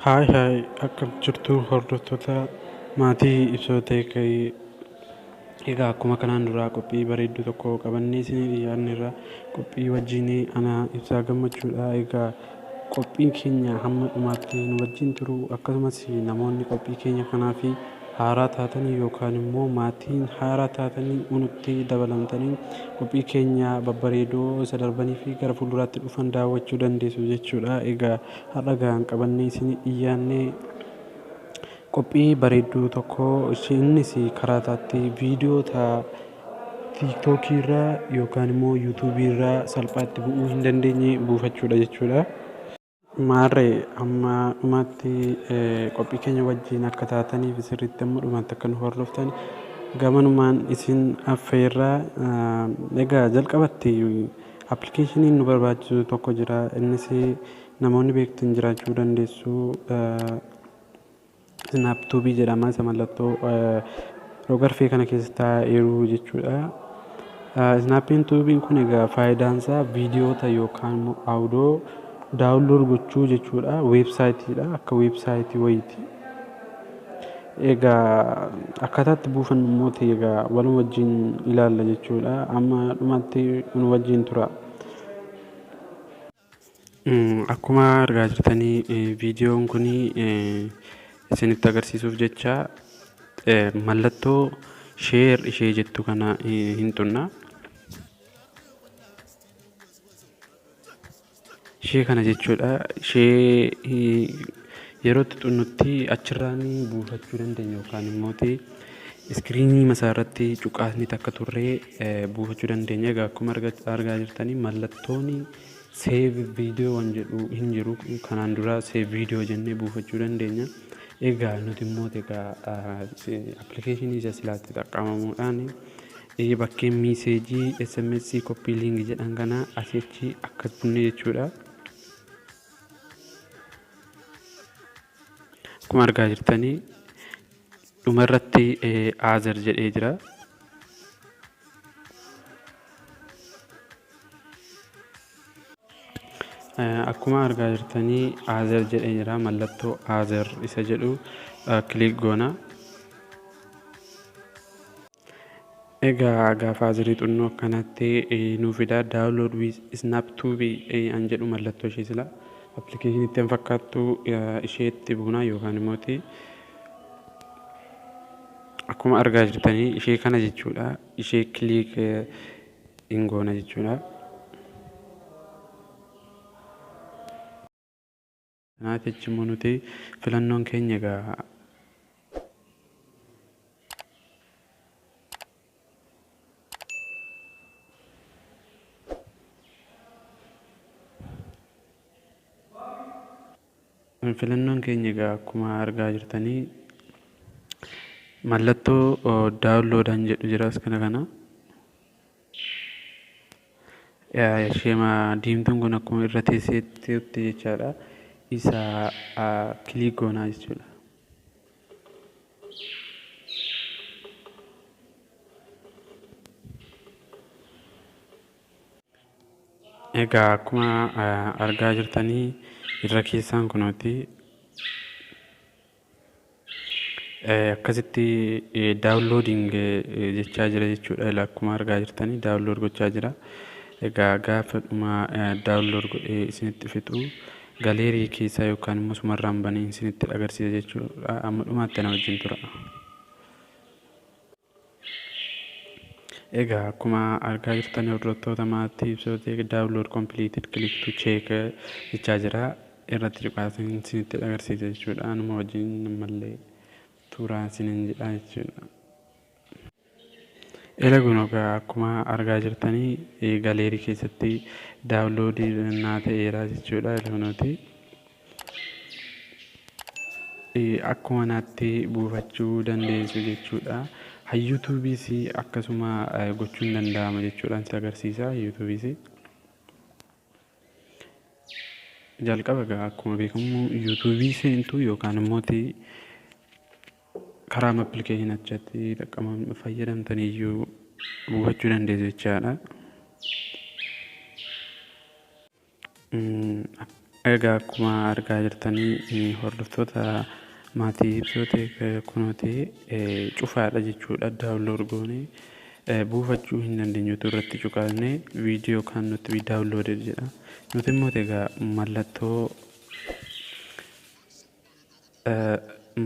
Haay haay akkam jirtu hordoftoota maatii ibsoo ta'e egaa akkuma kanaan duraa qophii bareedduu tokko qabannee isinii dhiyaanneerra qophii wajjin anaa ibsaa gammachuudha egaa Qophiin keenya hamma dhumaatti nu wajjin turuu, akkasumas namoonni qophii keenya kanaaf haaraa taatanii yookaan immoo maatiin haaraa taatanii nutti dabalamtanii qophii keenya babbareedoo isa darbanii fi gara fuulduraatti dhufan daawwachuu dandeessu jechuudha. Egaa har'a gahaan qabannee isin dhiyaannee Qophii bareedduu tokko innis karaa isaatti viidiyoo ta'a. Tiktok irraa yookaan immoo YouTube irraa salphaatti bu'uu hin dandeenye buufachuudha jechuudha. Maarree amma dhumaatti qophii keenya wajjin akka taataniif sirriitti amma dhumaatti akka nu hordoftan gamanumaan isin affeerra. Egaa jalqabatti appilikeeshiniin nu barbaachisu tokko jira. Innis namoonni beektan jiraachuu dandeessu. Snap tuubii jedhama isa mallattoo rogarfee kana keessa taa'eeru jechuudha. Snappiin tuubiin kun egaa faayidaan isaa viidiyoota yookaan immoo audoo daawunlood gochuu jechuudha. Weebsaayitiidha akka weebsaayitii wayiiti. Egaa akkaataatti buufannu immoo ta'e egaa waluma wajjin ilaalla jechuudha. Amma dhumatti nu wajjin tura. Akkuma argaa jirtan viidiyoon kun isinitti agarsiisuuf jecha mallattoo share ishee jettu kana hin tuqna. Ishee kana jechuudha. Ishee Yeroo tuxunnutti achirraan buufachuu dandeenya yookaan immoo iskiriinii masaarratti cuqaasni takka turree buufachuu dandeenya. Egaa akkuma argaa jirtanii mallattoon save video waan jedhu hin jiru. Kanaan dura save video jennee buufachuu dandeenya. Egaa nuti immoo egaa appilikeeshinii isa silaatti xaqqabamuudhaan bakkeen miiseejii SMS koppii liingi jedhan kana asichi akka bunne jechuudha. Akkuma argaa jirtan dhuma irratti Aazer jedhee jira. Akkuma argaa jirtan Aazer jedhee jira. Mallattoo Aazer isa jedhu kiliik goona. Egaa gaafa azirii xunnoo akkanatti nuu fidaa download with snap tube an jedhu mallattoo ishee sila application itti an fakkaattu isheetti buunaa yookaan immoo akkuma argaa jirtanii ishee kana jechuudha ishee kiliik hin goona jechuudha. Kanaaf jecha immoo nuti filannoon keenya egaa filannoon keenya egaa akkuma argaa jirtanii mallattoo daawunloodaan jedhu jira iskana kana Ishema diimtuun kun akkuma irra teesseetti jechaadha. Isa kiliik goonaa jechuudha. Egaa akkuma argaa jirtanii irra keessaan kunooti. Akkasitti downloading jechaa jira jechuudha. Ilaa akkuma argaa jirtanii download gochaa jira. Egaa gaafa dhuma download godhee isinitti fixu galeerii keessaa yookaan immoo sumarraan banee isinitti agarsiisa jechuudha. Amma dhumaatti ana wajjin tura. Egaa akkuma argaa jirtan hordoftoota maatii ibsootii download completed click to check jechaa jira irratti cuqaasin isinitti agarsiisa jechuudha anuma wajjin ammallee tuuraan isinin jedha jechuudha. Ela kun egaa akkuma argaa jirtanii galeerii keessatti daawunloodii naa ta'eera jechuudha. Ela kunooti. akkuma naatti buufachuu dandeessu jechuudha. Hayyuutuubiis akkasuma gochuun danda'ama jechuudhaan si agarsiisa. Hayyuutuubiis jalqaba egaa akkuma beekamu yuutuubii seentu yookaan immoo karaa appilikeeshinii achatti xaqqaman fayyadamtan iyyuu buufachuu dandeessu jechaadha. Egaa akkuma argaa jirtanii hordoftoota maatii ibsooteek kunooti cufaadha jechuudha daawunlood goone buufachuu hin dandeenyutu irratti cuqaasne viidiyoo kan nuti daawunlood jedha nuti immoo egaa mallattoo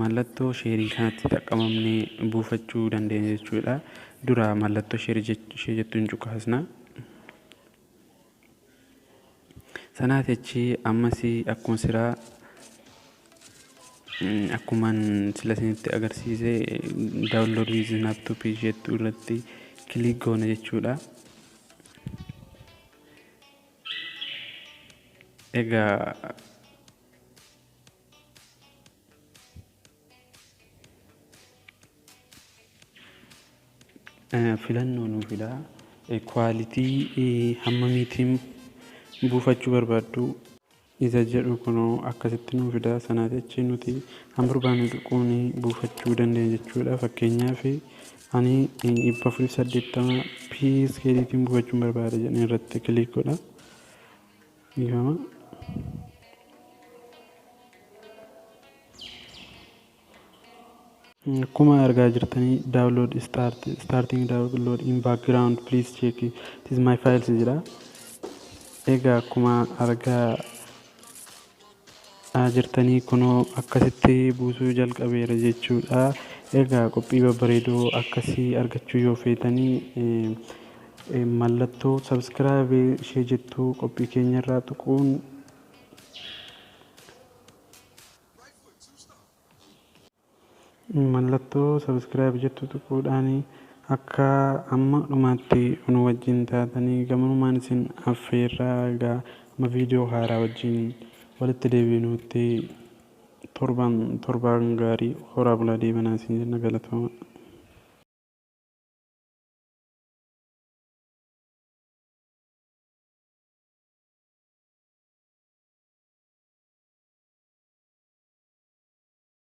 mallattoo sheerii kanatti xaqqamamnee buufachuu dandeenya jechuudha dura mallattoo sheerii ishee jettuun cuqaasna. Sanaa techii ammasii akkuma siraa akkuman sila isinitti agarsiise download with laptop jettu irratti click goona jechuudha. Egaa filannoo nuu fidaa kwaalitii hammamiitiin buufachuu barbaaddu isa jedhu kunoo akkasitti nuu fidaa sanaa jechi nuti kan barbaannu tuquun buufachuu dandeenya jechuudha fakkeenyaaf ani dhibba afurii saddeettama pskeeliitiin buufachuun barbaada jedheen irratti kiliik godha Dhiifama. Akkuma argaa jirtanii download start starting download in background please check it is my files jedha. Egaa akkuma argaa aa jirtanii kunoo akkasitti buusuu jalqabeera jechuudha egaa qophii babbareedoo akkasii argachuu yoo feetanii mallattoo subscribe ishee jettuu qophii keenya irraa tuquun Mallattoo subscribe jettu tuquudhaan akka amma dhumaatti nu wajjin taatanii gamanumaan isin affeerra egaa amma viidiyoo haaraa wajjin walitti deebiinuutti torban torbaan gaarii horaa bulaa deemanaa isin jenna galatooma.